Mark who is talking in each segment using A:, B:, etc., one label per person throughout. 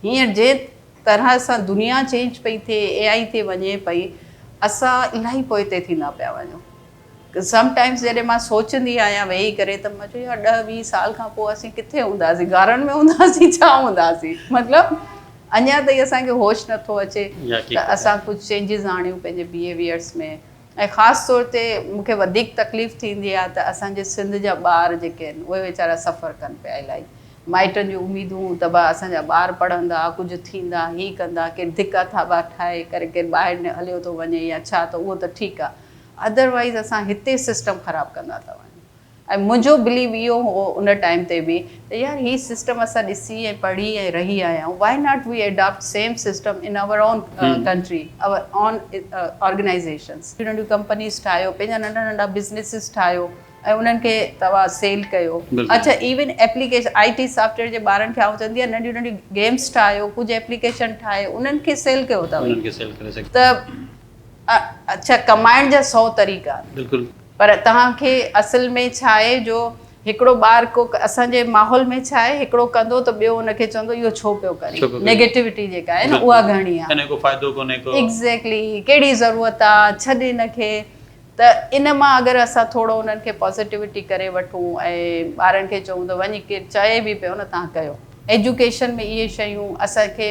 A: هينئر جي طرح سان دنيا چينج پئي ٿئي اي آئي ٿي وڃي پئي اسان الاهي پوئتي ٿيندا پيا وڃون سم ٽائمس جڏهن مان سوچندي آهيان ويهي ڪري ته مان چوان يار ڏهه ويهه سال کان پوء اسين ڪٿي هونداسين غارن ۾ هونداسين ڇا هونداسين مطلب اڃان تائين اسان کي هوش نٿو اچي ته اسان ڪجهه چينجز آڻيون پنهنجي بيهيويئرس ۾ ۽ خاص طور تي مون کي وڌيڪ تڪليف ٿيندي آ ته اسان جي سنڌ جا ٻار جيڪي آهن اهي ويچارا سفر ڪن پيا الائي مائٽن جون اميدون ته ڀا اسان جا ٻار پڙهندا ڪجهه ٿيندا هي ڪندا ڪير ڌڪا ٿاٻا ٺاهي ڪري ڪير ٻاهر هليو ٿو وڃي يا ڇا ته اهو ته ٺيڪ آ اڌر وائيز اسان هتي سسٽم خراب ڪندا ٿا وڃون. ۽ منهنجو بليو اهو هو ان ٽائيم تي به ته يار هي سسٽم اسان ڏسي ۽ پڙهي ۽ رهي آيا آهيون why not we adapt same system in our own country our own organisations ننڍيون ننڍيون ڪمپنيز ٺاهيو پنهنجا ننڍا ننڍا بزنيسز ٺاهيو ۽ انهن کي توهان سيل ڪيو اڇا even application I T software جي ٻارن کي آئون چوندي آهيان ننڍيون ننڍيون گيمز ٺاهيو ڪجهه ايپليڪيشن ٺاهي انهن کي سيل ڪيو توهين ته اڇا ڪمائڻ جا سئو طريقا. بلڪل. پر توهان کي اصل ۾ ڇا آهي جو هڪڙو ٻار ڪو اسان جي ماحول ۾ ڇا آهي هڪڙو ڪندو ته ٻيو ان کي چوندو اهو ڇو پيو ڪرين نيگيٽوٽي جيڪا آهي نه اها گهڻي آهي. انکو فائدو ڪونهي ڪو. ايگزيڪلي ڪهڙي ضرورت آ ڇڏ ان کي ته ان مان اگر اسان ٿورو انهن کي پازيٽوٽي ڪري وٺون ۽ ٻارن کي چئون ته وڃي ڪير چئي به پيو نه تان ڪيو ايجوڪيشن ۾ اهي شيون اسان کي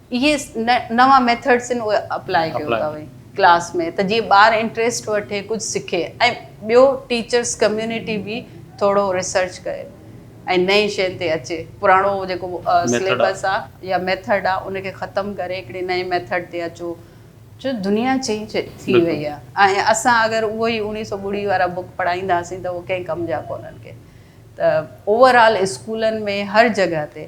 A: اهي نوان ميٿڊس آهن اهي اپلاء ڪيو تهوين ڪلاس ۾ ته جيئن ٻار انٽريسٽ وٺي ڪجهه سکي ۽ ٻيو ٽيچرس ڪميونٽي به ٿورو ريسرچ ڪري ۽ نئين شين تي اچي پراڻو جيڪو سليبس آ يا ميٿڊ آ ان کي ختم ڪري هڪڙي نئين ميٿڊ تي اچو جو دنيا چينج ٿي وئي آ ۽ اسان اگر اهو ئي اوڻيهه سؤ ٻڙي وارا بوڪ پڙهائينداسين ته اهو ڪنهن ڪم جا ڪونهن ڪي ته اوور آل اسڪولن ۾ هر جڳهه تي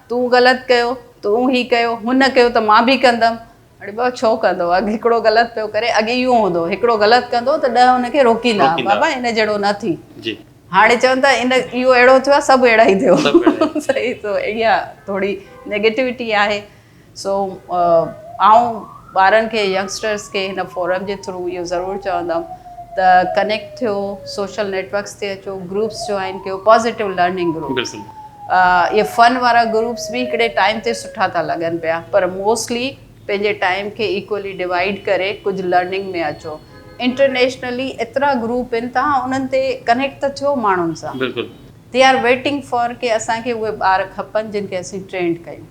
A: تون غلط ڪيو، تون هي ڪيو، هن ڪيو ته مان به ڪندم. اڙي بابا ڇو ڪندو؟ اڳ هڪڙو غلط پيو ڪري، اڳ اهو هوندو هو هڪڙو غلط ڪندو ته ڏهه ان کي روڪيندا ها بابا ان جهڙو نه ٿي. هاڻي چون ٿا ان اهو اهڙو ٿيو آهي سڀ اهڙا ئي ٿيو. صحيح سو اها ٿوري نيگيٽوٽي آهي سو آئون ٻارن کي ينگسٽرز کي هن فورم جي ٿرو اهو ضرور چوندم ته ڪنيڪٽ ٿيو سوشل نيٽ ورڪس تي اچو گروپس جوائن ڪيو پازيٽو لرننگ گروپس اهي فن وارا گروپس به هڪڙي ٽائيم تي سٺا ٿا لڳن پيا پر موسٽلي پنهنجي ٽائيم کي ايڪولي ڊوائيڊ ڪري ڪجهه لرننگ ۾ اچو انٽرنيشنلي ايترا گروپ آهن توهان انهن تي ڪنيڪٽ ته ٿيو ماڻهن سان دي آر ويٽنگ فار ڪي اسان کي اهي ٻار کپن جن کي اسين ٽرينڊ ڪيون.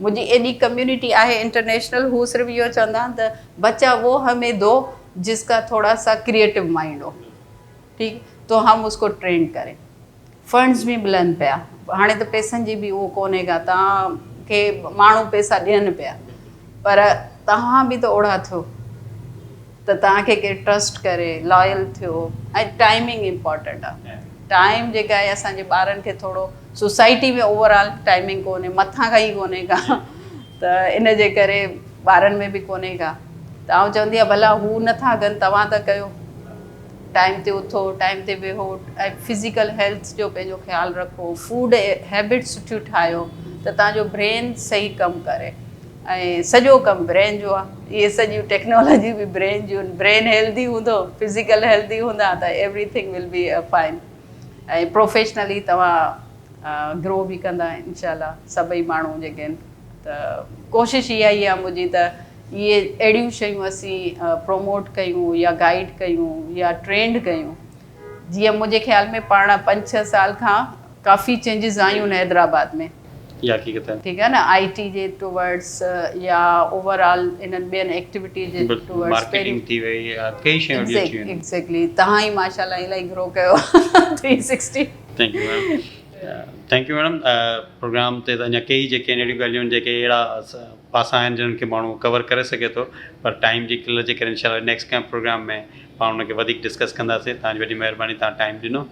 A: منهنجي ايڏي ڪميونٽي آهي انٽرنيشنل هو صرف اهو چوندا آهن ته بچا وو همي دو جس ڪا ٿوڙا سا ڪريئيٽو مائنڊ هو ٺيڪ تو هم اس ڪو ٽرينڊ ڪرين فنڊز به ملن پيا هاڻي ته پيسن جي به اهو ڪونهي ڪا توهان کي ماڻهو پيسا ڏين پيا پر توهان به ته اوڙا ٿيو ته توهان کي ڪير ٽرسٽ ڪري لايل ٿيو ۽ ٽائمنگ امپورٽنٽ آ ٽائم جيڪا آهي اسان جي ٻارن کي ٿورو سوسائٽي ۾ اوور آل ٽائمنگ ڪونهي مٿان کان ئي ڪونهي ڪا ته ان جي ڪري ٻارن ۾ به ڪونهي ڪا ته آئون چوندي آهيان ڀلا هو نٿا ڪن توهان ته ڪيو ٽائم تي اٿو ٽائم تي ويهو ۽ فزيڪل هيلٿ جو پنهنجو خيال رکو فوڊ هيبٽ سٺيون ٺاهيو ته تهان جو برين صحيح ڪم ڪري ۽ سڄو ڪم برين جو آ اهي سڄيون ٽيڪنالاجيون به برين جون آهن برين هيلڌي هوندو فزيڪل هيلڌي هوندا ته everything will be fine ۽ professionally توهان گرو به ڪندا انشاء الله سڀئي ماڻهو جيڪي آهن ته ڪوشش اها ئي آ منهنجي ته اهي اهڙيون شيون اسين پروموٽ ڪيون يا گائيڊ ڪيون يا ٽرينڊ ڪيون جيئن منهنجي خيال ۾ پاڻ پنج ڇهه سال کان ڪافي چينجز آيون ان حيدرآباد ۾. اها حقيقت آهي. ٺيڪ آهي نه آئي ٽي جي ٽوورڊس يا اوور آل انهن ٻين ايڪٽيوٽي جي ٽوورڊس پهرين مارڪيٽنگ ٿي وئي
B: ڪئي شيون اهڙيون ٿيون آهن. ايگزيڪلي
A: توهان ئي
B: ماشاء
A: الله الائي گرو ڪيو آهي three sixty. Thank you
B: ma'am thank you madam programme تي ته اڃا ڪئي جيڪي آهن اهڙيون ڳالهيون جيڪي اهڙا پاسا آهن جنهن کي ماڻهو ڪور ڪري سگهي ٿو پر ٽائيم جي قلت جي ڪري انشاء الله نيڪسٽ ڪنهن پروگرام ۾ پاڻ ان کي وڌيڪ ڊسڪس ڪنداسين توهان جي وڏي مهرباني توهان ٽائيم ڏنو.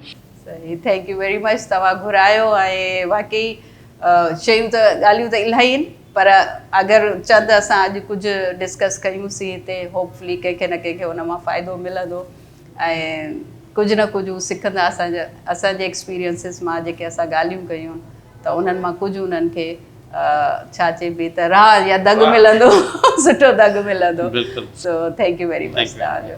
B: صحيح ٿينڪ
A: يو ويري مچ توهان گهرايو ۽ واقعي شيون ته ڳالهيون ته الاهي آهن پر اگر چند اسان اڄ ڪجهه ڊسڪس ڪيون سين هتي هوپ فلي ڪنهن کي نه ڪنهن کي ان مان فائدو ملندو ۽ ڪجهه نه ڪجهه هو سکندا اسان اسان جي ايڪسپيرينسز مان جيڪي اسان ڳالهيون ڪيون ته انهن مان ڪجهه انهن کي ڇا چئبي ته راهه يا دڳ ملندو سٺو دڳ ملندو سو ٿينڪ يو ويري
B: مچ
A: توهان جو.